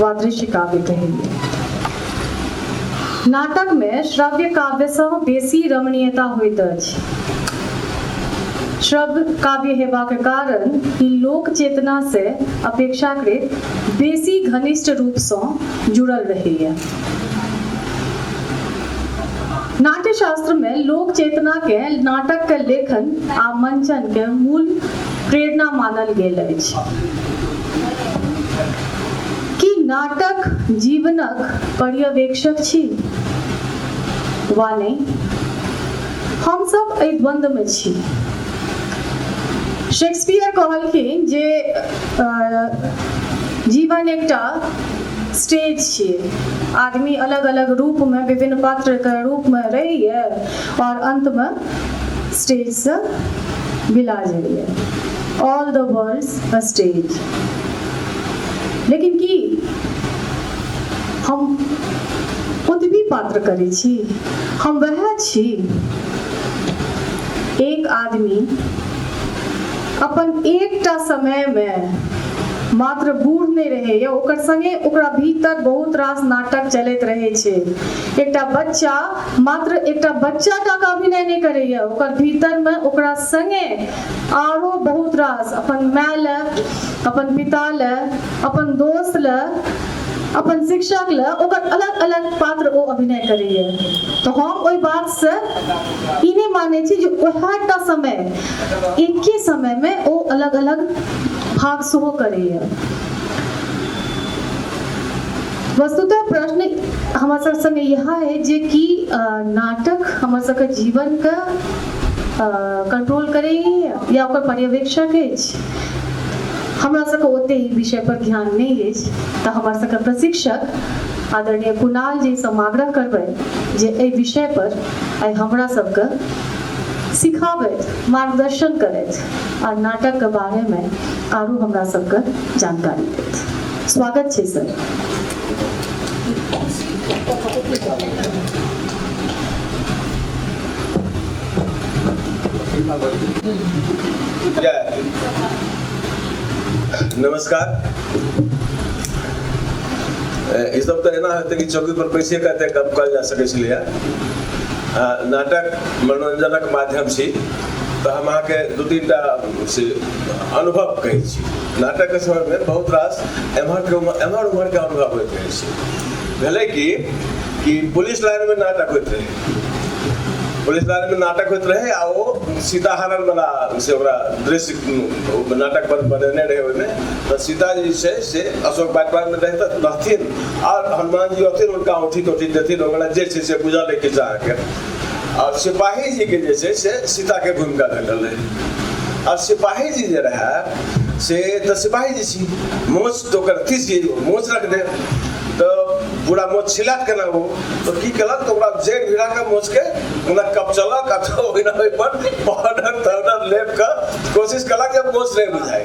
वादृश्य काव्य कहेंगे नाटक में श्रव्य काव्य से बेसी रमणीयता होइत अछि श्रव्य काव्य हेबाक कारण लोक चेतना से अपेक्षाकृत बेसी घनिष्ठ रूप से जुड़ल रहैया नाट्यशास्त्र में लोक चेतना के नाटक के लेखन आ मंचन के मूल प्रेरणा मानल गेल अछि कि नाटक जीवनक पर्यवेक्षक छी वा नहि हम सब एहि द्वंद्व में छी शेक्सपियर कहलखिन जे अ, जीवन एकटा स्टेज छियै आदमी अलग अलग रूपमे विभिन्न पात्रके रूपमे रहैए आओर अन्तमे स्टेजसँ बिला जाइए all the world's a stage लेकिन की हम ओतबी पात्र करै छी हम वएह छी एक आदमी अपन एकटा समय मे मात्र बूढ़ नहि रहैए ओकर संगे ओकरा भीतर बहुत रास नाटक चलैत रहै छै एकटा बच्चा मात्र एकटा बच्चा टा का अभिनय नहि करैए ओकर भीतर मे ओकरा संगे आरो बहुत रास अपन माय ले अपन पिता ले अपन दोस्त ले अपन शिक्षक ले ओकर अलग अलग पात्र ओ अभिनय करैए तऽ हम ओहि बात से ई नहि मानै छी जे ओएहटा समय एके समय में ओ अलग अलग भाग सेहो करैए वस्तुतः प्रश्न हमर सब संगे यह है जे कि अ, नाटक हमर सबके जीवन के कंट्रोल करे या ओकर पर्यवेक्षक अछि हमरा सबके ओते ई विषय पर ध्यान नहीं अछि तऽ हमर सबके प्रशिक्षक आदरणीय कुणाल जी से आग्रह करबै जे एहि विषय पर आइ हमरा सबके सिखाबैत मार्गदर्शन करैत आर नाटक के बारे में आरो हमरा सब के जानकारी देत स्वागत छै सर नमस्कार इस सब तो एना हेतै कि चौकी पर बैसिए कऽ एतेक गप कयल जा सकै छलैए नाटक मनोरञ्जनक माध्यम छी तऽ हम अहाँके दू तीन टा से अनुभव कहै छी नाटकके समयमे बहुत रास एम्हरके उम्हर एम्हर उम्हरके अनुभव होइत रहै छै भेलै कि कि पुलिस लाइनमे नाटक होइत रहै पुलिस लाइनमे नाटक होइत रहै आ ओ सीताहरणवला से ओकरा दृश्य नाटक बनेने रहै ओहिमे तऽ सीता जे छै से अशोक बागवानमे रहै तऽ रहथिन आर हनुमान जी अथिन हुनका औठी तौठी देथिन ओकरा जे छै से बुझल अइ किछु अहाँके आओर सिपाही जीके जे छै से सीताके भूमिका भेटल रहै आओर सिपाही जी जे रहए से तऽ सिपाही जी छी मोच तऽ ओकर अथी छी मोच रख दे तऽ पूरा मोच छिलात केना हो तऽ की केलक तऽ ओकरा जड़ि भिड़ा कऽ मोचके ओना कपचलक आ ओहिना ओहिपर पाउडर ताउडर लेप कऽ कोशिश केलक जे मोच नहि बुझाय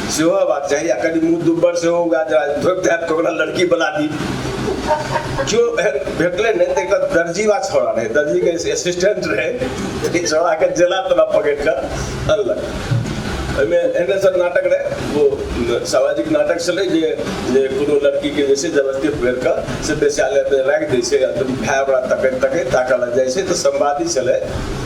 सेहो हेबाक चाही आ कनि मुँह दुब्बर सेहो उगा धोपि धापि कऽ ओकरा लड़की बना दी जो भेटलै ने तऽ एकर दर्जी वा छोड़ा रहै दर्जीके असिस्टेंट रहै ई छोड़ाके जेना तेना पकड़ि कऽ अनलक ओहिमे एहने सब नाटक रहै ओ सामाजिक नाटक छलै जे जे कोनो लड़कीके जे छै जबरदस्ती पकड़ि कऽ से बेस्यालयमे राखि दै छै आ भाय ओकरा तकैत तकैत ताकऽ लग जाइ छै तऽ संवादी छलै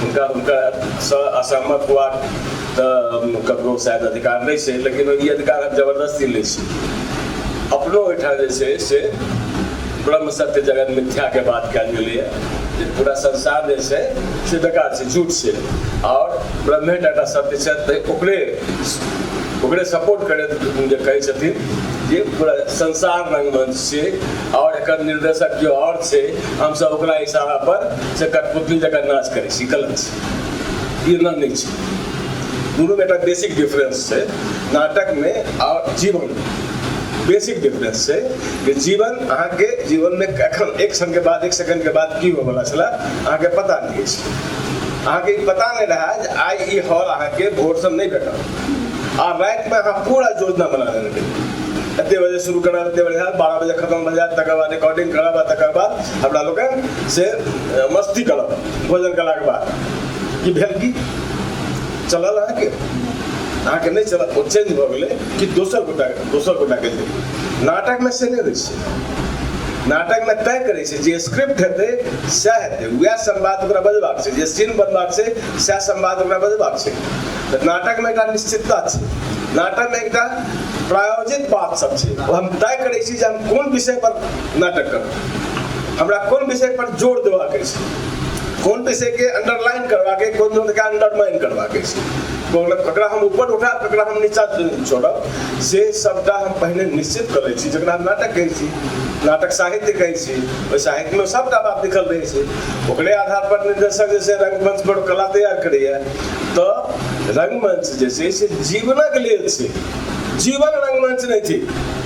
हुनका हुनकर स असहमत हुआ तो ककरो शायद अधिकार नहीं से लेकिन ये अधिकार हम जबरदस्ती नहीं से अपनो ओठा जैसे से ब्रह्म सत्य जगत मिथ्या के बात कल गई है पूरा संसार जैसे से बेकार से झूठ से और ब्रह्मे टाटा सत्य से तो ओकरे ओकरे सपोर्ट करे जे कहै छथिन जे पूरा संसार रंगमंच से और एक निर्देशक जो और से हम सब ओकरा इशारा पर जकर पुतली जकर नाच करै छी गलत छै ई एना नहि छै दुनूमे एकटा बेसिक डिफरेंस छै नाटकमे आओर जीवनमे बेसिक डिफरेंस छै कि जीवन अहाँके जीवनमे एखन एक क्षणके बाद एक सेकंडके बाद की होयवला छलए अहाँके पता नहि अछि अहाँके ई पता नहि रहए जे आइ ई हॉल अहाँके भोरसँ नहि भेटल आ रातिमे अहाँ पूरा योजना बना लेबै एते बजे शुरू करब एते बजे बारह बजे खतम भऽ जायत तकर बाद रिकॉर्डिंग करब आ तकर बाद हमरा लोकनि से मस्ती कलक भोजन कयलाके बाद की भेल की चलल अहाँके अहाँके नहि चलत ओ चेंज भऽ गेलै कि दोसर गोटा दोसर गोटाके लेल नाटकमे से नहि होइ छै नाटकमे तय करै छै जे स्क्रिप्ट हेतै सएह हेतै उएह संवाद ओकरा बजबाक छै जे सीन बनबाक छै सएह संवाद ओकरा बजबाक छै तऽ नाटकमे एकटा निश्चितता छै नाटकमे एकटा प्रायोजित बात सब छै हम तय करै छी जे हम कोन विषय पर नाटक करब हमरा कोन विषय पर जोर देबाक अछि कोन विषय के अंडरलाइन करबाक अछि कोन विषय के अंडरमाइन करबाक अछि कोन ककरा हम ऊपर उठा ककरा हम नीचा छोड़ब से सबटा हम पहले निश्चित कर लै छी जकरा हम नाटक कहै छी नाटक साहित्य कहै छी ओहि साहित्यमे सबटा बात लिखल रहै छै ओकरे आधार पर निर्देशक जे छै रंगमंच पर कला तैयार करैया तऽ रंगमंच जे छै से जीवनक लेल छै जीवन रंगमंच नहि थिक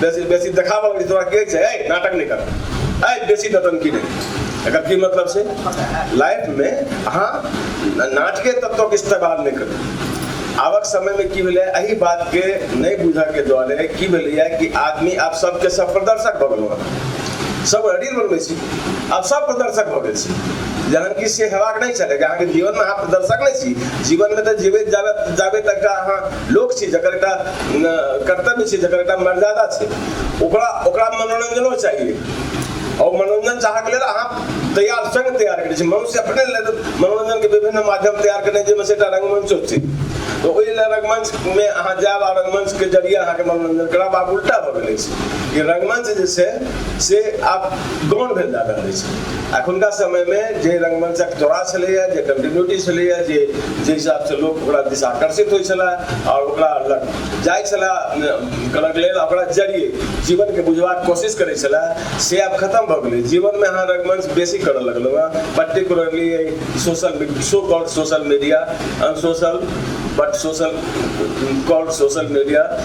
बेसी बेसी देखाबऽ लगै छै तोरा के छै ऐ नाटक नहि कर ऐ बेसी नौटंकी नहि एकर की मतलब छै लाइफमे अहाँ नाटके तत्वक इस्तेमाल नहि करू आबक समयमे की भेलै एहि बातके नहि बुझऽके दुआरे की भेलैए कि आदमी आब सबके सब प्रदर्शक भऽ गेलहुँ हँ सब रील बनबै छी आब सब प्रदर्शक भऽ गेल छी जहन कि से हेबाक नहि छलै अहाँके जीवनमे अहाँ प्रदर्शक नहि छी जीवनमे तऽ जीबैत जाबे जाबे तक अहाँ लोक छै जकर एकटा कर्तव्य छै जकर एकटा मर्यादा छै ओकरा ओकरा मनोरञ्जनो चाहिए और मनोरंजन चाहक लेल अहाँ तैयार संग तैयार करै छी मनुष्य अपने लेल मनोरंजन के विभिन्न माध्यम तैयार करने जाहिमे से एकटा रंगमंच छै तऽ ओहि लेल रंगमंच मे अहाँ जायब आ रंगमंच के जरिए अहाँके मनोरंजन करब आब उल्टा भऽ गेल अछि कि रंगमंच जे छै से आब गौण भेल जा रहल अछि अखुनका समयमे जे रङ्गमञ्चक जोड़ा छलैए जे कन्टिन्यूटी छलैए जे जाहि हिसाबसँ लोक ओकरा दिस आकर्षित होइ छलै आओर ओकरा लग जाइ छलै करऽके लेल ओकरा जरिये जीवनके बुझबाक कोशिश करै छलै से आब खतम भऽ गेलै जीवनमे अहाँ रङ्गमञ्च बेसी करऽ लगलहुँ हँ पर्टिकुलरली एहि social so called social media unsocial but social called social media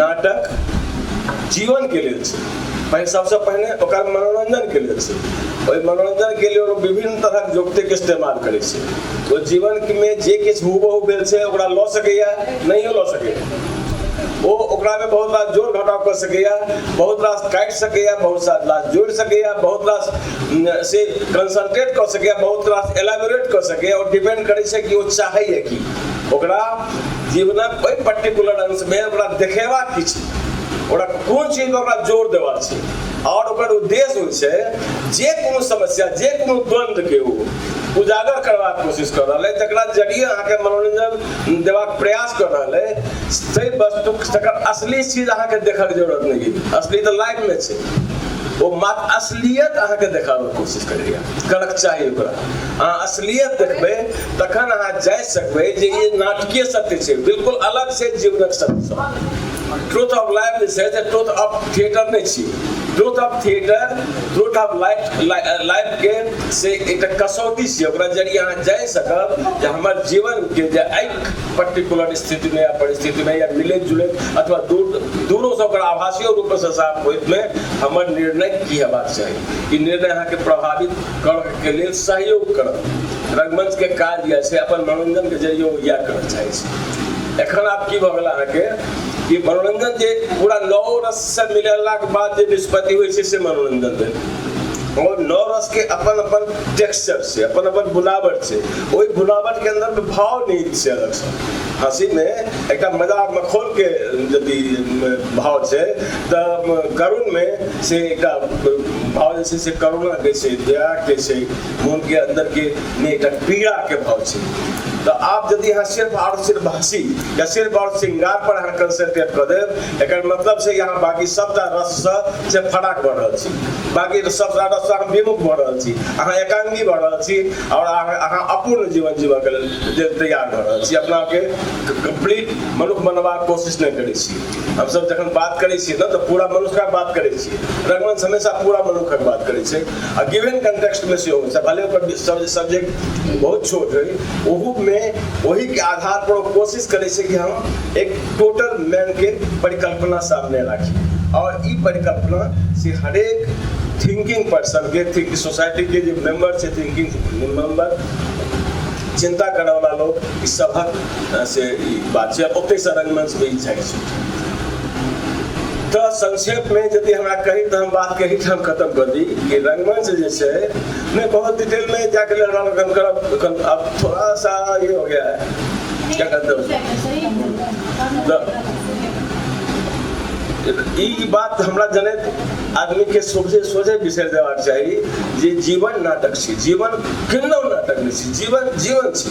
नाटक जीवनके लेल छै पहिने सबसँ पहिने ओकर मनोरञ्जनके लेल छै ओहि मनोरञ्जनके लेल ओ विभिन्न तरहक युक्तिके इस्तेमाल करै छै ओ जीवनमे जे किछु हुबहु भेल छै ओकरा लऽ सकैए नहियो लऽ सकैए ओ ओकरामे बहुत रास जोड़ घटाव कऽ सकैए बहुत रास काटि सकैए बहुत सारा रास जोड़ि सकैए बहुत रास से कंसंट्रेट कऽ सकैए बहुत रास एलाबोरेट कऽ सकैए ओ डिपेंड करै छै कि ओ चाहैए की ओकरा जीवनक ओहि पर्टिकुलर अंशमे ओकरा देखेबाक की छै ओकरा कोन चीज पर ओकरा जोर देबाक छै आओर ओकर उद्देश्य होइ छै जे कोनो समस्या जे कोनो द्वन्द्वके ओ उजागर करबाक कोशिश कर रहल है तकरा जरिए अहाँके मनोरंजन देबाक प्रयास कर रहल है ताहि वस्तु तकर असली चीज अहाँके देखक जरूरत नहीं है असली तो लाइफ में छै ओ मात्र असलियत अहाँके देखाबैके कोशिश करैए करक चाही ओकरा अहाँ असलियत देखबै तखन अहाँ जाय सकबै जे ई नाटकीय सत्य छै बिल्कुल अलग से जीवनक सत्य ट्रूथ ऑफ लाइफ जे छै से ट्रूथ ऑफ थिएटर नहि छी truth of theatre truth of life life के से एकटा कसौटी छै ओकरा जरिए अहाँ जाय सकब जे हमर जीवन के जे एहि पर्टिकुलर स्थिति में या परिस्थिति में या मिले जुले अथवा दूर दूरों से ओकरा आभासीय रूप से साफ होइत में हमर निर्णय की हेबाक चाही ई निर्णय अहाँके प्रभावित के लिए सहयोग कर रंगमंच के काज या से अपन मनोरंजन के जरिए या कर चाहे छी एखन आप की भऽ गेल अहाँके कि मनोरंजन जे पूरा नौ रस से मिलेलाक बाद जे निष्पत्ति होइ छै से मनोरंजन भेल और नौ रस के अपन अपन टेक्सचर से अपन अपन बुलावट से ओहि बुलावट के अंदर में भाव नहीं छै अलग से हंसी में एक मजा मखोल के यदि भाव छै तऽ करुण में से एकटा भाव जे छै से करुणाके छै दयाके छै मोनके अन्दरके नहि एकटा पीड़ाके भाव छै तऽ आब यदि अहाँ सिर्फ आओर सिर्फ हँसी या सिर्फ आओर श्रृंगार पर अहाँ कंसंट्रेट कऽ देब एकर मतलब छै अहाँ बाकी सभटा रससँ से फराक भऽ रहल छी बाकी सभटा रससँ अहाँ विमुख भऽ रहल छी अहाँ एकांगी भऽ रहल छी आओर अहाँ अहाँ अपूर्ण जीवन जीवऽके लेल तैयार भऽ रहल छी अपनाके कम्प्लीट मनुष्य बनबाक कोशिश नहि करै छी हम सब जखन बात करै छियै ने तऽ पूरा मनुष्यके बात करै छियै रंगमंच हमेशा पूरा मनुष्यक बात करै छै आ गिवन कंटेक्स्टमे सेहो होइ छै भले ओकर सब्जेक्ट बहुत छोट होइ ओहूमे ओहीके आधार पर ओ कोशिश करै छै कि हम एक टोटल मैनके परिकल्पना सामने राखी आओर ई परिकल्पना से हरेक थिंकिंग पर्सन के थिंक सोसाइटी के जे मेंबर छै थिंकिंग मेंबर चिंता करऽवला लोक ई सभक से ई बात छै ओते से रंगमंच पे ई जाय छै तऽ संक्षेप में यदि हमरा कही तऽ हम बात कही हम खत्म कर दी कि रंगमंच जे छै मैं बहुत डिटेल में जाके लड़ाम हम करब अब थोड़ा सा ये हो गया है क्या कहते हो तो ई बात हमरा जनैत आदमी के सोझे सोझे बिसर देबाक चाही जे जीवन नाटक छी जीवन केहनो नाटक नहि छी जीवन जीवन छी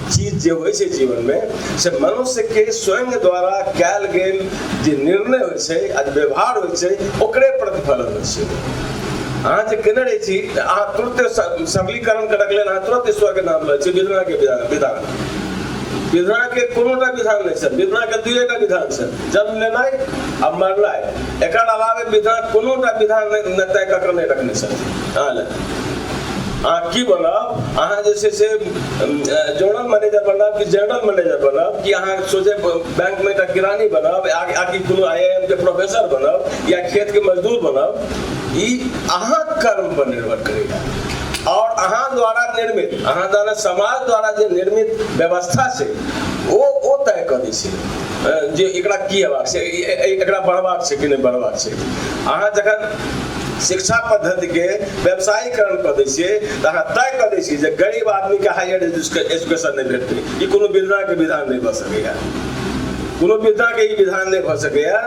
चीज जे होइ छै जीवनमे से मनुष्यके स्वयं द्वारा कयल गेल जे निर्णय होइ छै आ जे व्यवहार होइ छै ओकरे प्रतिफलन होइ छै अहाँ जे केने रहै छी तऽ अहाँ तुरते सबलीकरण करक लेल अहाँ तुरत ईश्वरके नाम लै छी विधनाके विधान विधनाके कोनोटा विधान नहि छनि विधनाके दुएटा विधान छनि जन्म लेनाइ आ मरनाइ एकर अलावे विधना कोनोटा विधान नहि तय कऽ कऽ नहि रखने छथि अहाँ लए अहाँ की बनब अहाँ जे छै से जनरल मैनेजर बनब कि जनरल मैनेजर बनब कि अहाँ सोझे बैंकमे एकटा किरानी बनब आ कि कोनो आई आई एम के प्रोफेसर बनब या खेतके मजदूर बनब ई अहाँ कर्मपर निर्भर करैए आओर अहाँ द्वारा निर्मित अहाँ द्वारा समाज द्वारा जे निर्मित व्यवस्था छै ओ ओ तय कऽ दै छै जे एकरा की हेबाक छै एकरा बढ़बाक छै कि नहि बढ़बाक छै अहाँ जखन शिक्षा पद्धति के व्यवसायीकरण कर दै छियै तऽ अहाँ तय कर दै छियै जे गरीब आदमी के हायर एजुकेशन नहि भेटतै ई कोनो विधा के विधान नहि भऽ सकैया कोनो विधा के ई विधान नहि भऽ सकैया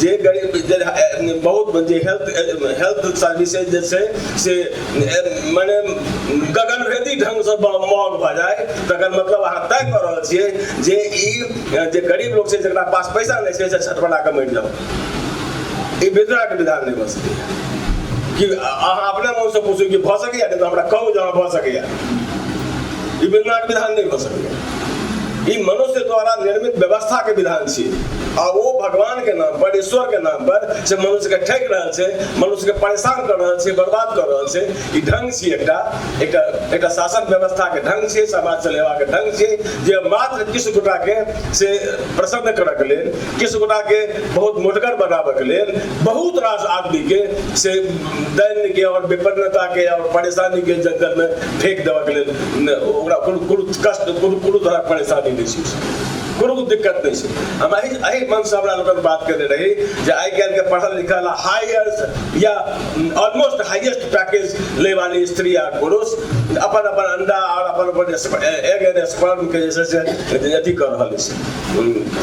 जे गरीब जे बहुत जे हेल्थ हेल्थ सर्विसेज जे छै से मने गगनभेदी ढंग से महग भऽ जाय तकर मतलब अहाँ तय कऽ रहल छियै जे ई जे गरीब लोक छै जकरा पास पैसा नहि छै से छटपटा कऽ मरि जाउ ई वितराक विधान नहि भऽ सकैए कि अहाँ अपने मुँहसँ पूछू कि भऽ सकैए नहि तऽ हमरा कहू जे अहाँ भऽ सकैए ई वितराक विधान नहि भऽ सकैए ई मनुष्य द्वारा निर्मित व्यवस्था के विधान छी आ ओ भगवान के नाम पर ईश्वर के नाम पर से मनुष्य के ठकि रहल छै मनुष्य के परेशान कर रहल छै बर्बाद कर रहल छै ई ढंग छी एकटा एकटा एकटा शासन व्यवस्था के ढंग छियै समाज चलेबा के ढंग छियै जे मात्र किछु गोटा के से प्रसन्न करऽ के लेल किछु गोटाके बहुत मोटगर बनाबऽके लेल बहुत रास आदमीके से दैन्यके आओर विपन्नताके आओर परेशानीके जङ्गलमे फेक देबऽके लेल ओकरा कोनो कोनो कष्ट कोनो कोनो तरहक परेशानी नहि छै कोनो दिक्कत नहि छै हम एहि एहि मनसँ हमरा लोकनि बात केने रही जे आइ काल्हिके पढ़ल लिखल आ हायर या ऑलमोस्ट हाइएस्ट पैकेज लै वाली स्त्री आ पुरुष अपन अपन अंडा आओर अपन अपन एग एंड स्पर्मके जे छै से अथी कऽ रहल अछि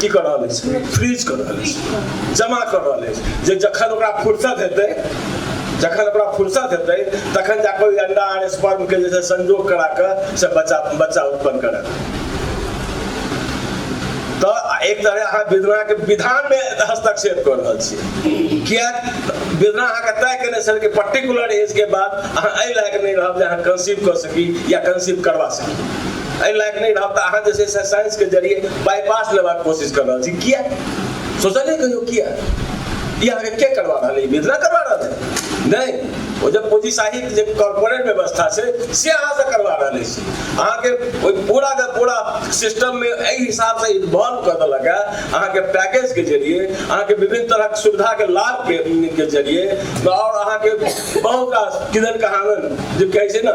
की कऽ रहल अछि फ्रीज कऽ रहल अछि जमा कऽ रहल अछि जे जखन ओकरा फुर्सत हेतै जखन ओकरा फुर्सत हेतै तखन जाकऽ ओहि अंडा आर स्पर्मके जे छै संजोग करा कऽ से बच्चा बच्चा उत्पन्न करत तऽ एक तरह अहाँ विधनाके विधानमे हस्तक्षेप कऽ रहल छियै किया विधना अहाँके तय केने छल कि पर्टिकुलर एजके बाद अहाँ एहि लायक नहि रहब जे अहाँ कंसीव कऽ सकी या कंसीव करवा सकी एहि लायक नहि रहब तऽ अहाँ जे छै से साइंसके जरिए बाईपास लेबाक कोशिश कर रहल छी किया सोचलिए कहियो किया ई अहाँके के करवा रहल अइ मिथिला करवा रहल अइ नहि ओ जे पूंजी साहित्य जे कॉर्पोरेट व्यवस्था छै से अहाँसँ करवा रहल अछि अहाँके ओहि पूरा के पूरा सिस्टममे एहि हिसाबसँ इन्वॉल्व कऽ देलक है अहाँके पैकेजके जरिए अहाँके विभिन्न तरहक सुविधाके लाभके के जरिए आओर अहाँके बहुत रास किदन कहादन जे कहै छै ने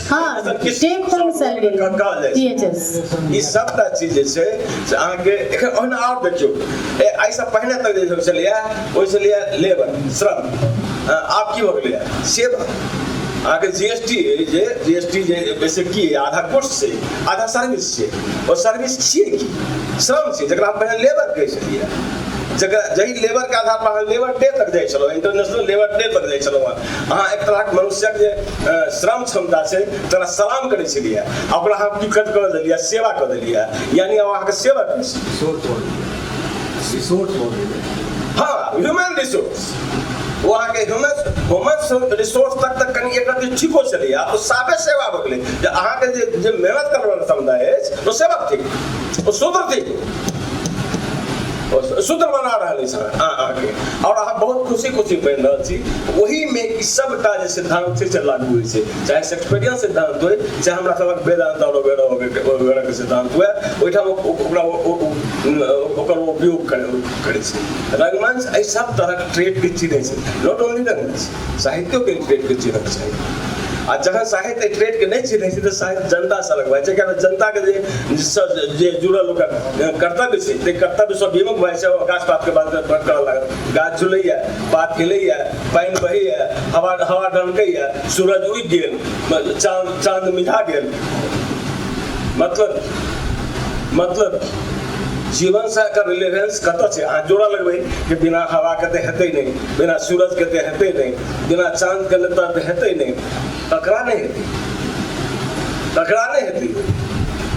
हाँ टेक होम सैलरी टीएचएस ई सबटा चीज जे छै से अहाँके एखन ओहिना आओर देखियौ ए, एहिसँ पहिने तक जे सब छलैए ओहि छलैए लेबर श्रम अ, आब की भऽ गेलैए सेवा अहाँके जी एस टी जे जी एस टी जे वैसे की अइ? आधा कोर्स छै आधा सर्विस छै ओ सर्विस छियै की श्रम छै जकरा हम पहिने लेबर कहै छलियै जकरा जहि लेबर के आधार पर अहाँ लेबर डे तक जाइ छलहुँ इंटरनेशनल लेबर डे तक जाइ छलहुँ अहाँ एक तरहक मनुष्यक जे श्रम क्षमता छै तोरा सलाम करै छलियै ओकरा हम टिकट कऽ देलियै सेवा कऽ देलियै यानि हम अहाँके सेवा करै छी हँ ह्यूमन रिसोर्स ओ अहाँके ह्यूमन ह्यूमन रिसोर्स तक तक कनि एक रत्ती ठीको छलैए ओ साफे सेवा भऽ गेलै जे अहाँके जे जे मेहनत करबैवला समुदाय अछि ओ सेवा थिक ओ शूद्र थिक सूत्र बना रहल अछि अहाँके आओर अहाँ बहुत खुशी खुशी बनि रहल छी ओहिमे ई सभटा जे सिद्धांत छै से लागू होइ छै चाहे शेक्सपियरियन सिद्धांत होइ चाहे हमरा सभक वेदांत आओर वगैरह वगैरहके सिद्धांत हुए ओहिठाम ओकरा ओकर उपयोग करै करै छै रंगमंच एहि सभ तरहक ट्रेडके चिन्है छै नॉट ओनली रंगमंच साहित्यो के ट्रेड के चिन्हक छै आ जहाँ साहित्य ट्रेड के नहीं चिन्है छै तऽ साहित्य जनता से अलग भए छै किया जनता के जे जे जुड़ल ओकर कर्तव्य छै ताहि कर्तव्य से विमुख भए छै गाछ पात के बात करऽ लागत गाछ झुलैया पात खेलैया पानि बहैया हवा हवा डलकैया सूरज उगि गेल चाँद चाँद मिझा गेल मतलब मतलब जीवन से एकर रिलेवेंस कतऽ छै अहाँ जोड़ऽ लगबै कि बिना हवाके तऽ हेतै नहि बिना सूरज के ते हेतै नहि बिना चांद के लता ते हेतै नहि ककरा नहि हेतै ककरा नहि हेतै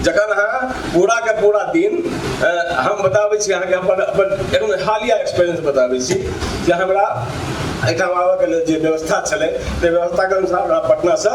जखन अहाँ पूरा के पूरा दिन हम बताबै छी अहाँके अपन अपन एकदम हालिया एक्सपीरियंस बताबै छी जे हमरा एहिठाम आबऽके लेल जे व्यवस्था छलै ताहि व्यवस्थाके अनुसार हमरा पटनासँ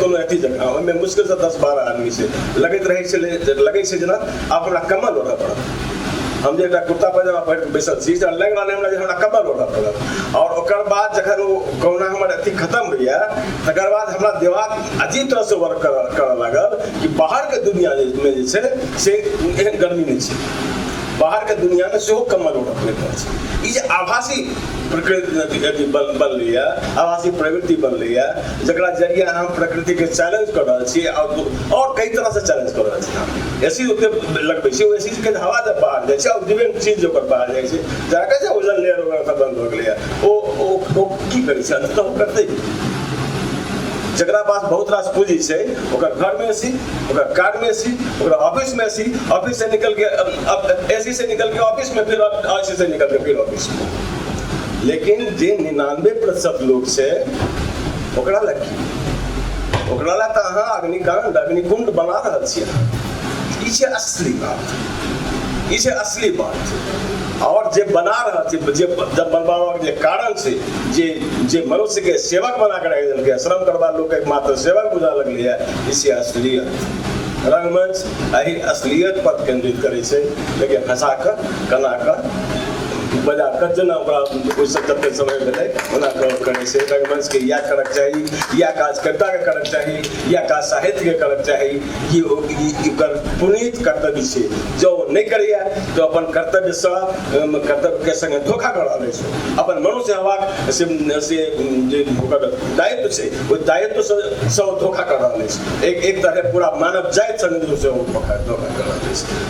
कोनो अथी जकाँ ओहिमे मुश्किलसँ दस बारह आदमी से लगैत रहै छलै लगै छै जेना आब हमरा कमल ओढ़ऽ पड़त हम जे एकटा कुर्ता पैजामा पहिर बैसल छी से लागि रहल हमरा जे हमरा कमल ओढ़ऽ पड़त आओर ओकर बाद जखन ओ कहुना हमर अथी खतम होइए तकर बाद हमरा देवाल अजीब तरहसँ वर्क करऽ करऽ लागल कि बाहरके दुनिआँमे जे छै से एहन गर्मी नहि छै बाहरके दुनिआँमे सेहो कमल ओढ़ऽ पड़ैत अछि ई जे आभासी प्रकृति अथी बनलैए आभासी प्रवृति बनलैए जकरा जरिए अहाँ प्रकृतिके चैलेंज कऽ रहल छी आओर आओर कई तरहसँ चैलेंज कऽ रहल छी ए सी ओते लगबै छी ओ ए सीके हवा जब बाहर जाइ छै आओर डिवेंट चीज जे ओकर बाहर जाइ छै जाकऽ जे ओजन लेयर ओकर ओतऽ बन्द भऽ गेलैए ओ ओ ओ की करै छै अन्ततः ओ करतै जकरा पास बहुत रास पूंजी छै ओकर घरमे ए सी ओकर कारमे ए सी ओकर ऑफिसमे ए सी ऑफिससँ निकलि कऽ ए सी से निकलि कऽ ऑफिसमे फेर ए सी से निकलि कऽ फेर ऑफिसमे लेकिन जे निनानबे प्रतिशत लोग से ओकरा लग की ओकरा लग तो अहाँ अग्निकांड अग्निकुंड बना रहल छी ई छै असली बात ई छै असली बात और जे बना रहल छी जे जब बनबाबक जे कारण छै जे जे मनुष्य के सेवक बना के रख देलकै श्रम करबा लोग एक मात्र सेवक बुझा लगलै है इसे असलियत रंगमंच एहि असलियत पर केंद्रित करै छै लेकिन हंसा कऽ कना कऽ बड़ा कच्चे ना बड़ा कोई सत्तर के समय में नहीं होना कहो करे से रंगमंच के या करक चाहिए या काज करता के करक चाहिए या काज साहित्य के करक चाहिए कि ओ- ई- ई कर पुनीत कर्तव्य से जो वो नहीं करिया तो अपन कर्तव्य से अम, कर्तव्य के संग धोखा कर रहे से अपन मनो से हवा से से अम, जे ओकर दायित्व से वो दायित्व से से वो धोखा कर रहे से एक एक तरह पूरा मानव जाति संग से वो धोखा धोखा कर रहे से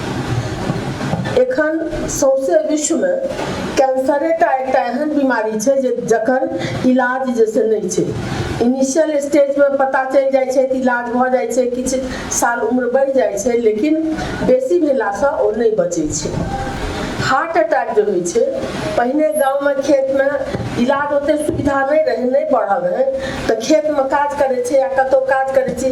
एखन सौंसे विश्वमे कैंसरेटा एकटा एहन बीमारी छै जे जकर इलाज जे से नहि छै इनिशियल स्टेजमे पता चलि जाइ छै तऽ इलाज भऽ जाइ छै किछु साल उम्र बढ़ि जाइ छै लेकिन बेसी भेलासँ ओ नहि बचै छै हार्ट अटैक जे होइ छै पहिने गाँवमे खेतमे इलाज ओतेक सुविधा नहि रहै नहि बढ़ल रहै तऽ खेतमे काज करै छै आ कतहु काज करै छै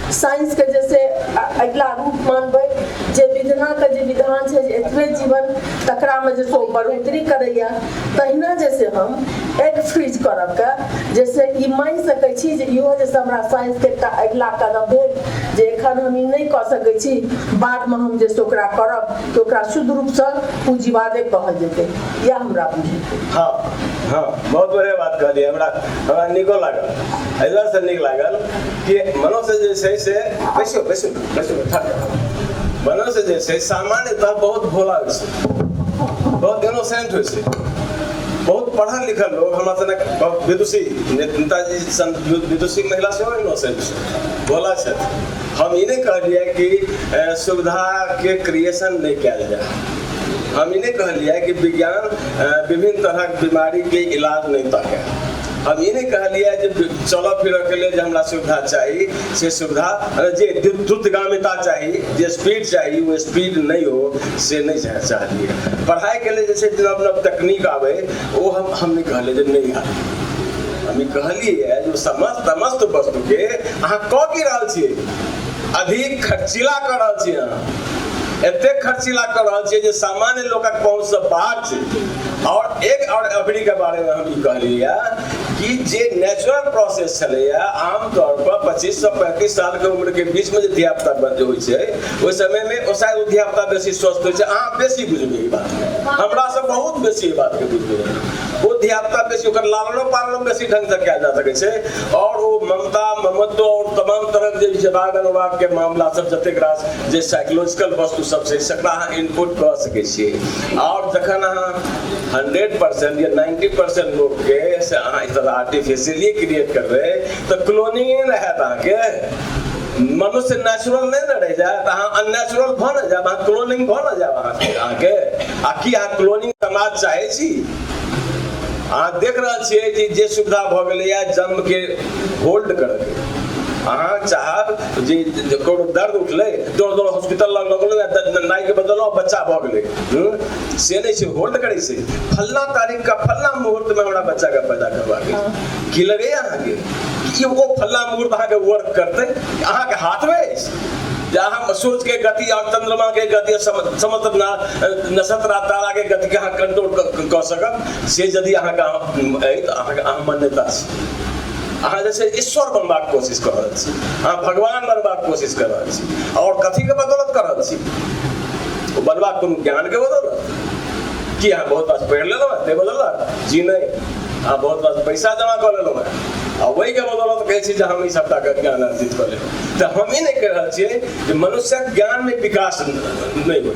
साइंसके जे छै अगिला रूप मानबै जे विधनाके जे विधान छै जे एतबे जीवन तकरामे जे छै ओ बढ़ोतरी करैए तहिना जे छै हम एक फ्रीज करबके जे छै ई मानि सकै छी जे इहो जे हमरा साइंसके एकटा अगिला कदम भेल जे एखन हम ई नहि कऽ सकै छी बादमे हम जे छै ओकरा करब तऽ ओकरा शुद्ध रूपसँ पूँजीवादे कहल जेतै इएह हमरा बुझै हँ हँ बहुत बढ़िआँ बात कहलियै हमरा हमरा नीको लागल एहि दुआरेसँ नीक लागल कि मनुष्य जे छै से बैसो बैसो बैसो मनुष्य जे छै सामान्यतः बहुत भोला होइ छै बहुत इनोसेंट होइ छै बहुत पढ़ल लिखल लोग हमरा सनक बहुत विदुषी नेताजी सन विदुषी महिला सेहो इनोसेंट छै भोला छथि हम ई नहि कहलियै कि अ, सुविधा के क्रिएशन नहि कयल जाय हम ई नहि कहलियै कि विज्ञान अ, विभिन्न तरहक बीमारी के इलाज नहि ताकै हम ई नहि कहलियै जे चलऽ फिरऽके लेल जे हमरा सुविधा चाही से सुविधा जे द्रुतगामिता चाही जे स्पीड चाही ओ स्पीड नहि हो से नहि चाहे चाहलियै पढ़ाइके लेल जे छै नव नव तकनीक आबै ओ हम हम नहि कहलियै जे नहि आबै हम ई कहलियै जे समस्त समस्त वस्तुके अहाँ कऽ की रहल छियै अधिक खर्चीला कऽ रहल छियै अहाँ एतेक खर्चीला कऽ रहल छियै जे सामान्य लोकक पहुँचसँ बाहर छै और एक और अबरी के बारे में हम कहलिया कि जे नेचुरल प्रोसेस छलैया आमतौर पर पच्चीस सौ पैंतीस साल के उम्र के बीच में जो धिया पुता बच्चे होइ छै ओहि समय में ओ शायद धिया पुता बेसी स्वस्थ होइ छै अहाँ बेसी बुझबै ई बात हमरा से बहुत बेसी ई बात के बुझबै ओ धिया पुता बेसी ओकर लालनो पालनो बेसी ढंग से कयल जा सकै छै और ओ ममता ममत्व और तमाम तरह के जे राग अनुराग के मामला सब जतेक रास जे साइकोलॉजिकल वस्तु सब छै सकरा अहाँ इनपुट कऽ सकै छियै आओर जखन अहाँ हंड्रेड परसेंट या नाइन्टी परसेंट लोकके से अहाँ इस तरह आर्टिफिशियली क्रिएट करबै तऽ क्लोनिंग नहि ने हैत अहाँके मनुष्य नेचुरल नहि ने रहि जायत अहाँ अननेचुरल भऽ ने जायब अहाँ क्लोनिंग भऽ ने जायब अहाँके अहाँके आ की अहाँ क्लोनिंग समाज चाहै छी अहाँ देख रहल छियै कि जे सुविधा भऽ गेलैए जन्मके होल्ड करयके अहाँ चाहब जे कोनो दर्द उठलै दौड़ दौड़ हॉस्पिटल लग लग गेलै नाइके बदललहुँ बच्चा भऽ गेलै हम्म? से नहि छै होल्ड करै छै फल्ला तारीखके फल्ला मुहूर्तमे हमरा बच्चाके पैदा करबाक अछि की लगैए अहाँके कि ओ फल्ला मुहूर्त अहाँके वर्क करतै अहाँके हाथमे अछि जे अहाँ सूर्यके गति आओर चन्द्रमाके गति आओर सम- समस्त ना- नक्षत्र आ ताराके गतिके अहाँ कंट्रोल कऽ- कऽ सकब से यदि अहाँके अहाँ- अछि तऽ अहाँके अहाँ मान्यता छै अहाँ जे छै ईश्वर बनबाक कोशिश कऽ रहल छी अहाँ भगवान बनबाक कोशिश कऽ रहल छी आओर कथीके बदौलत कऽ रहल छी ओ बनबाक कोनो ज्ञानके बदौलत कि अहाँ बहुत रास पढ़ि लेलहुँ हेँ ताहि बदौलत जी नहि अहाँ बहुत रास पैसा जमा कऽ लेलहुँ हेँ आ ओहिके बदौलत कहै छी जे हम ई सभटाके ज्ञान अर्जित कऽ लेलहुँ तऽ हम ई नहि कहि रहल छियै जे मनुष्यक ज्ञानमे विकास नहि होइ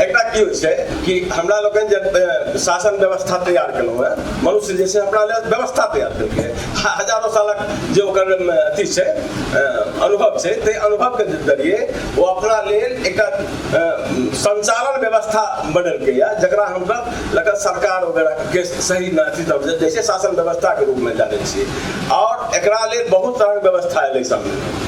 एकरा की होइ छै कि हमरा लोकनि जे शासन व्यवस्था तैयार केलहुँ हेँ मनुष्य जे छै अपना लेल व्यवस्था तैयार केलकै हजारों सालक जे ओकर अथी छै अनुभव छै ताहि अनुभवके जरिए ओ अपना लेल एकटा संचालन व्यवस्था बनेलकै यए जकरा हमसभ लग सरकार वगैरहके सही अथी सब जैसे शासन व्यवस्थाके रूपमे जानै छियै आओर एकरा लेल बहुत तरहके व्यवस्था एलै सामने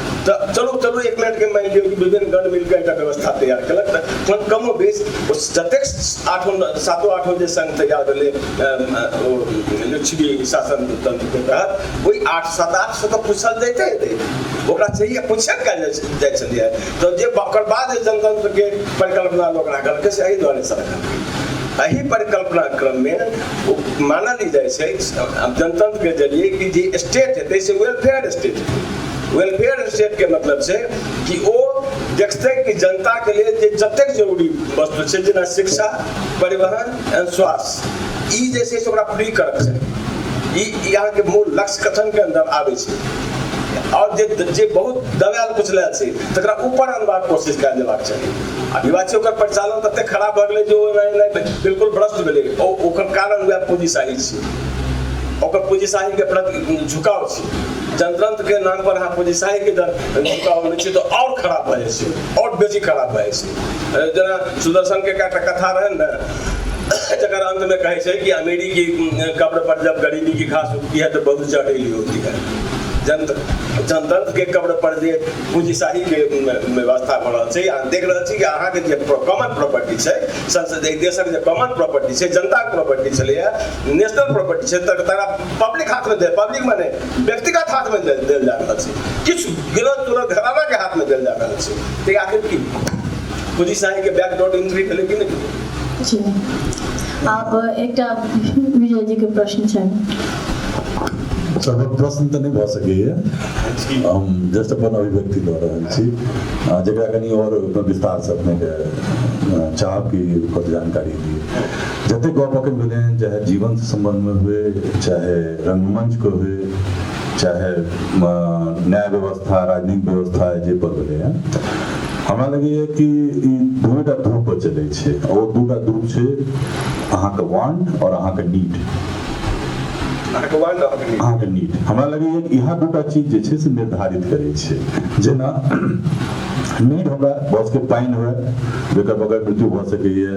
तऽ चलू चलू एक मिनटके मानि लियौ कि विभिन्न गण मिलकर एकटा व्यवस्था तैयार केलक तऽ कमो बेस जतेक आठो सातो आठो जे संघ तैयार भेलै लिच्छवी शासन तंत्रके तहत ओहि आठ सात आठ सए तऽ पूछल जाइते हेतै ओकरा चाहिए पूछे कयल जाइ छलियै तऽ जे ओकर बाद जे जनतंत्रके परिकल्पना लोक राखलकै से एहि दुआरे से रखलकै एहि परिकल्पना क्रममे ओ मानल ई जाइ छै जनतंत्रके जरिए कि जे स्टेट हेतै से वेलफेयर स्टेट हेतै वेलफेयर स्टेटके मतलब छै कि ओ देखतै कि जनताके लेल जे जतेक जरूरी वस्तु छै जेना शिक्षा परिवहन एंड स्वास्थ्य ई जे छै से ओकरा फ्री करक छै ई अहाँके मूल लक्ष्य कथनके अन्दर आबै छै आओर जे जे बहुत दबायल कुचलायल छै तकरा ऊपर अनबाक कोशिश कयल जेबाक चाही आ विवाची ओकर परिचालन ततेक खराब भऽ गेलै जे ओ एना एना बिल्कुल भ्रष्ट भेलै ओकर कारण वएह पूँजीशाही छै ओकर पूँजीशाहीके प्रति झुकाव छै जनतंत्र के नाम पर अहाँ पुलिसाई के दर चुकावल छी तो और खराब भए जाइ छै और बेसी खराब भए जाइ छै जेना सुदर्शन के एकटा कथा रहन ने जकर अंत में कहे छै कि अमीरी की कब्र पर जब गरीबी की घास उगती है तो बहुत जटिल होती है जनत जनतंत्र के कब्र पर जे पूंजीशाही के व्यवस्था भऽ रहल छै अहाँ देख रहल छी कि अहाँके जे कॉमन प्रॉपर्टी छै संसद देशक जे कॉमन प्रॉपर्टी छै जनताके प्रॉपर्टी छलैए नेशनल प्रॉपर्टी छै तकरा पब्लिक हाथमे दे पब्लिक मने व्यक्तिगत हाथमे देल जा रहल छै किछु विरोध तुरोध घरानाके हाथमे देल जा रहल छै तऽ आखिर की पुजी साहेबके बैकडोर एंट्री भेलै कि नहि आब एकटा विजयजीके प्रश्न छनि सभक प्रश्न तऽ नहि भऽ सकैए हम जस्ट अपन अभिव्यक्ति दऽ रहल छी जकरा कनि आओर विस्तारसँ अपनेके चाहब कि ओकर जानकारी दिए जतेक गप अखन भेलै हँ चाहे जीवन से सम्बन्ध में हुए चाहे रंगमंच को हुए चाहे न्याय व्यवस्था राजनीतिक व्यवस्था जे पर भेलै हँ हमरा लगैए कि ई दूटा धूप पर चलै छै ओ दूटा धूप छै अहाँके वांट और अहाँके नीड अहाँके नीड हमरा लगैए कि इएह दूटा चीज जे छै से निर्धारित करै छै जेना नीड हमरा बसके पानि हुए जकर बगैर मृत्यु भऽ सकैए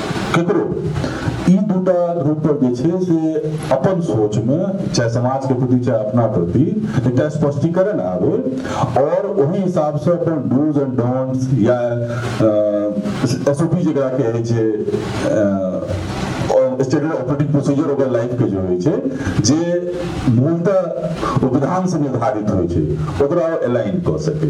केकरो ई दूटा रूप पर जे छै से अपन सोच में चाहे समाज के प्रति चाहे अपना प्रति एकटा स्पष्टीकरण आवे और वही हिसाब से अपन डूज एंड डोंट्स या एस ओ पी जरा कहे छे स्टैंडर्ड ऑपरेटिंग प्रोसीजर ओकर लाइफ के जो होइ छै जे मूलतः विधान से निर्धारित होइ छै ओकरा अलाइन कऽ सके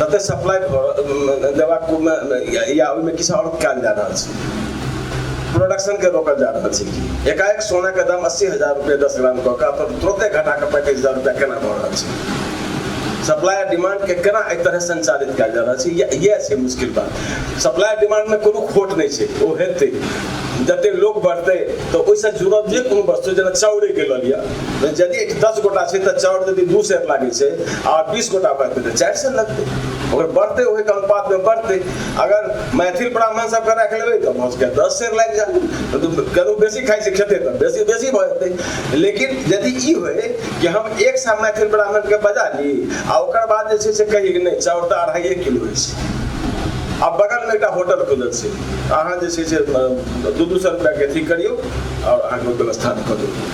तते सप्लाई देबाक या ओहिमे किछु आओर कयल जा रहल छै प्रोडक्शनके रोकल जा रहल छै एकाएक सोनाके दाम अस्सी हजार रुपैआ दस ग्राम कऽ कऽ अपन तुरते घटाके पैंतीस हजार रुपैआ केना भऽ रहल छै सप्लाई आ डिमांडके केना एहि तरह संचालित कयल जा रहल छै इएह छै मुश्किल बात सप्लाई डिमांडमे कोनो खोट नहि छै ओ हेतै जतेक लोक बढ़तै तऽ ओहिसँ जुड़ल जे कोनो वस्तु जेना चाउरेके लऽ लिअ तऽ यदि एक दस गोटा छै तऽ चाउर यदि दू सेर लागै छै आ बीस गोटा बढ़तै तऽ चारि सेर लगतै ओकर बढ़तै ओहिके अनुपातमे बढ़तै अगर मैथिल ब्राह्मण सबके राखि लेबै तऽ भऽ सकैए दस सेर लागि जाए कतहु बेसी खाइ छै खेतै तऽ बेसी बेसी भऽ जेतै लेकिन यदि ई होय कि हम एक सए मैथिल ब्राह्मणके बजा ली आ ओकर बाद जे छै से कही कि नहि चाउर तऽ अढ़ाइए किलो होइ छै आ बगलमे एकटा होटल खुलल छै अहाँ जे छै से दू दू सए रुपैआके अथी करियौ आओर अहाँके व्यवस्था कऽ देबै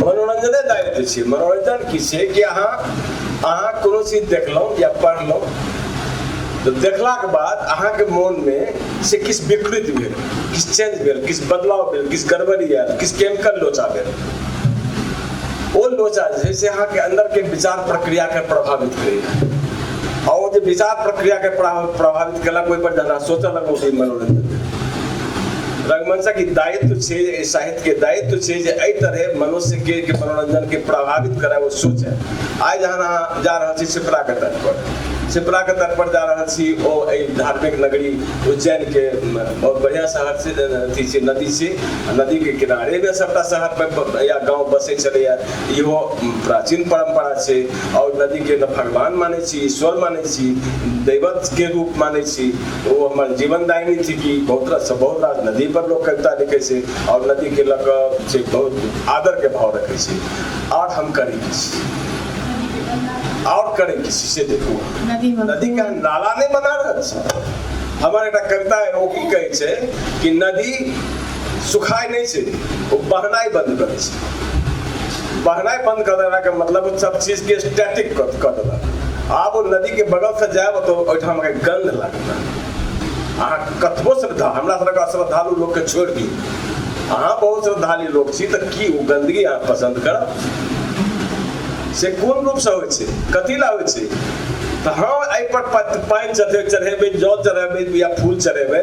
मनोरञ्जने दाबि दै छियै मनोरञ्जन की छै कि अहाँ अहाँ कोनो चीज देखलहुँ या पढ़लहुँ तऽ देखलाके बाद अहाँके मोनमे से किछु विकृत भेल किछु चेंज भेल किछु बदलाव भेल किछु गड़बड़ी आयल किछु केमिकल लोचा भेल ओ लोचा जे छै से अहाँके अन्दरके विचार प्रक्रियाके प्रभावित करैए आ ओ जे विचार प्रक्रियाके प्रभावित केलक ओहिपर जकरा सोचऽ लगलहुँ मनोरञ्जन रंगमंचक ई दायित्व छै साहित्य के दायित्व छै जे एहि तरहे मनुष्य के के मनोरंजन के प्रभावित करे वो सोच है आइ जहन अहाँ जा रहल छी शिप्रा के तट पर शिप्रा के तट पर जा रहल छी ओ एहि धार्मिक नगरी उज्जैन के म, बहुत बढ़िया शहर छै जे अथी छै नदी छै आ नदी के किनारे में सबटा शहर पर ब- या गांव बसे छलैया इहो म, प्राचीन परंपरा छै और नदी के न भगवान माने छी ईश्वर माने छी दैवत के रूप माने छी ओ हमर जीवनदायिनी थिकी बहुत रास बहुत रास नदी पर लोक कविता लिखै छै आओर नदी के लऽ कऽ छै बहुत आदर के भाव रखै छै आओर हम करी किछु आओर करै किछु से देखू नदी में नदी के हम नाला नहि बना रहल छी हमर एकटा कविता है ओ की कहै छै कि नदी सुखाइ नहि छै ओ बहनाइ बन्द करै छै बहनाइ बन्द कऽ देलाके मतलब ओ सब चीजके स्टैटिक कऽ कऽ देलक आब ओ नदीके बगलसँ जायब तऽ ओहिठाम अहाँके गन्ध लागत अहाँ कतबो श्रद्धा हमरा सभके अश्रद्धालु लोकके छोड़ि दियौ अहाँ बहुत श्रद्धालु लोक छी तऽ की ओ गन्दगी अहाँ पसन्द करब से कोन रूपसँ होइ छै कथी लए होइ छै तऽ हम एहिपर पानि चढ़ेबै जल चढ़ेबै या फूल चढ़ेबै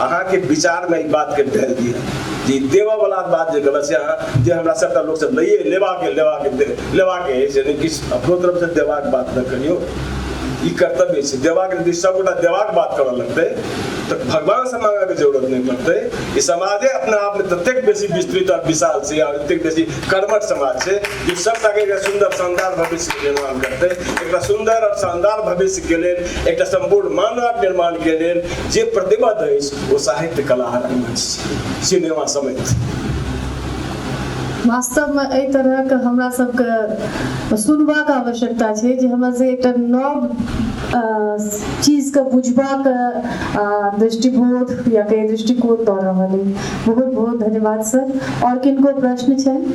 अहाँके विचारमे ई बातके ढालि दिअ जे ई देबऽवला बात जे गलत छै अहाँ जे हमरा सभटा लोकसभ लैए लेबाके लेबाके लेबाके अछि यानि किछु अपनो तरफसँ देबाक बात नहि करियौ ई कर्तव्य छै देबाक यदि सभगोटा देबाक बात करऽ लगतै तऽ भगवानसँ माँगऽके जरूरत नहि पड़तै ई समाजे अपना आपमे ततेक बेसी विस्तृत आओर विशाल छै आओर एतेक बेसी कर्मठ समाज छै जे सभटाके एकटा सुन्दर शानदार भविष्यके निर्माण करतै एकटा सुन्दर आओर शानदार भविष्यके लेल एकटा सम्पूर्ण मानवक निर्माणके लेल जे प्रतिभा दै ओ साहित्य कला रङ्गमञ्च सिनेमा समेत वास्तवमे एहि तरहक हमरा सबके सुनबाक आवश्यकता छै जे हमरा से एकटा नव चीजके बुझबाक दृष्टिबोध या कहीं दृष्टिकोण दऽ रहल अइ बहुत बहुत धन्यवाद सर आओर किनको प्रश्न छनि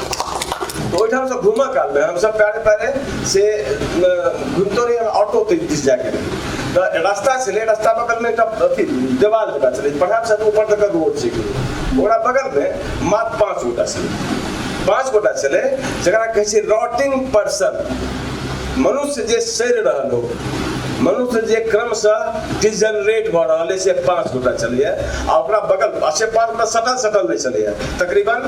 ओहिठाम से घूमऽ काल में हमसब पैरे पैरे से घूमते रही ऑटो तक दिस जाके तऽ रास्ता छलै रास्ता बगल में एकटा अथी देवाल जगह छलै पढ़ाब से ऊपर तक रोड छै ओकरा बगल में मात्र पाँच गोटा छलै पाँच गोटा छलै जकरा कहै छै रॉटिंग पर्सन मनुष्य जे सड़ि रहल हो मनुष्य जे क्रमशः डिजनरेट भऽ रहल है से पाँच गोटा चलैए आ ओकरा बगल से पाँच गोटा सटल सटल नहि चलैए तकरीबन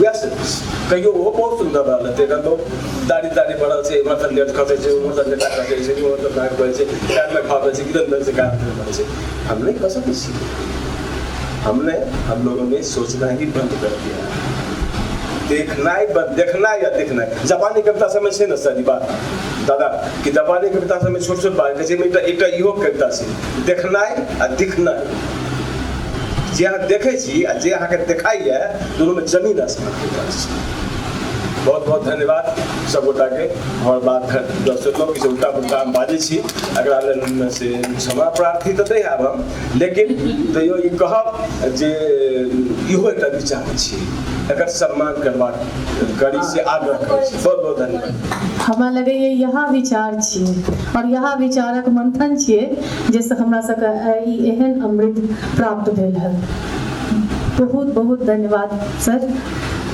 वएह सब कहियो ओहो बहुत सुन्दर रहल हेतै एखन तो दाढ़ी ताड़ी बढ़ल छै एम्हर तक लेट खसै छै उम्हर तक लेटा खसै छै उम्हर तक भागि पड़ै छै पैरमे खा पड़ै छै किदन पड़ै छै गाछ पड़ै छै हम नहि कऽ सकै छी हमने हम लोगों ने सोचना ही बंद कर दिया देखनाइ बंद देखनाइ या देखनाइ जापानी कविता सबमे छै ने सर ई बात दादा कि जापानी कविता सबमे छोट छोट बात कहै छै एकटा एकटा इहो कविता छै देखनाइ आ दिखनाइ जे अहाँ देखै छी आ जे अहाँके देखाइए दुनूमे जमीन आसमान के फर्क छै बहुत बहुत धन्यवाद सब गोटा के हमर बात दर्शकों की उल्टा पुल्टा हम बाजै छी एकरा लेल से क्षमा प्रार्थी तऽ नहि आब हम लेकिन तैयो ई कहब जे इहो एकटा विचार छी एकर सम्मान करबाक करी से आग्रह करै छी बहुत बहुत धन्यवाद हमरा लगैए इएह विचार छियै आओर इएह विचारक मंथन छियै जइ सँ हमरा सब के आइ ई एहन अमृत प्राप्त भेल हल। बहुत बहुत धन्यवाद सर।